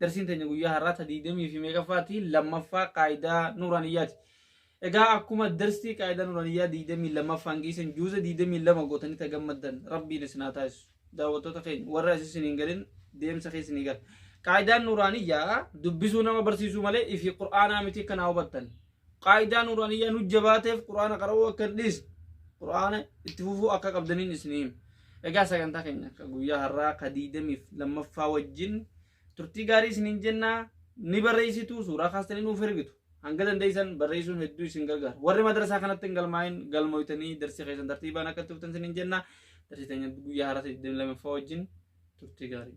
Darsiin teenya guyyaa har'aa ta 20 fi meeqaffaati? Lammaffaa qaayidaa nuuraaniyyaati. Egaa akkuma darsii qaayidaa nuuraaniyyaa 22ffaan geessan juuza 22 gootanii ta gammaddan rabbiin isin haa taasisu. Daawwattoota keenya warra asi isin hin galin deemsa keessa ni gala. Qaayidaan nuuraaniyyaa dubbisuu nama barsiisuu malee ifii qur'aanaa miti akka naa hubattan. Qaayidaa nuuraaniyyaan hujja baateef Qur'aana qara'uu akka hin dhiisne Qur'aana itti fufuu akka qabdaniin isinii hima. Egaa sagantaa keenya akka guyyaa har'aa ka diidamiif lammaffaa wajjin turtii gaarii isiniin jennaa ni barreessitu suuraa kaastanii nuuf ergitu. Hanga dandeessan barreessuun hedduu isin gargaara. Warri madrasaa kanatti hin galmaa'in galmooytanii darsii keessan tartiibaan akka itti fuftan isiniin jennaa darsii teenya guyyaa har'aa 22ffaa wajjin turtii gaarii.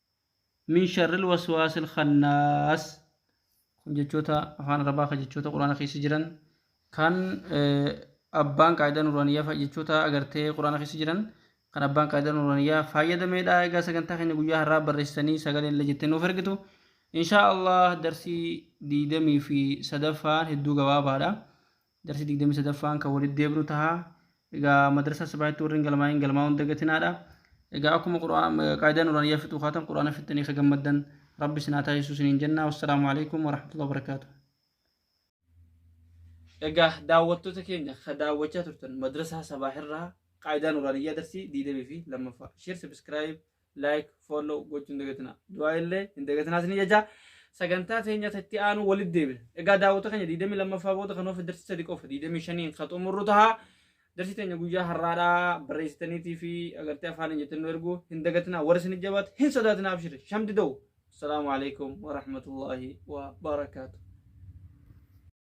min sharril waswaasil khannaas kun jechoota afaan arabaa ka jechoota quraana keessa jiran kan abbaan qaayidaa nuraaniyaa jechoota agartee quraana keessa jiran kan abbaan qaayidaa nuraaniyaa fayyadameedha egaa sagantaa keenya guyyaa har'aa barreessanii sagaleen illee jettee nuuf ergitu inshaa allah darsii diidamii fi sadaffaan hedduu gabaabaadha Darsi 23ffaan kan walitti deebinu taha. Egaa madrasaa sabaahitti warri hin galmaa'in galmaa'uu hin dagatinaadha. Egaa akkuma Qur'aan qaayidaa nuraaniyyaa fixuu kaatan Qur'aana fixxanii akka gammaddan Rabbi isin haa taasisuu isiniin jenna. Wassalaamu alaikum warahmatullahi wabarakaatuh. Egaa daawwattoota keenya ka daawwachaa turtan madrasaa sabaahirraa qaayidaa nuraaniyyaa darsii 22ffaa. Share, subscribe, like follow gochuu hin dagatinaa du'aa illee hin dagatinaa isin jechaa sagantaa teenya itti aanu walitti deebina egaa daawwata keenya 22ffaa booda kan of darsi sadi qofa 25n ka xumurru taha darsi teenya guyyaa har'aadhaa barreessitaniitii fi agartee afaan hin jettan nu ergu hin dagatinaa warri isin jabaate hin sodaatinaa abshiri shamdi da'u assalaamu alaikum warahmatullaahi wabarakaatu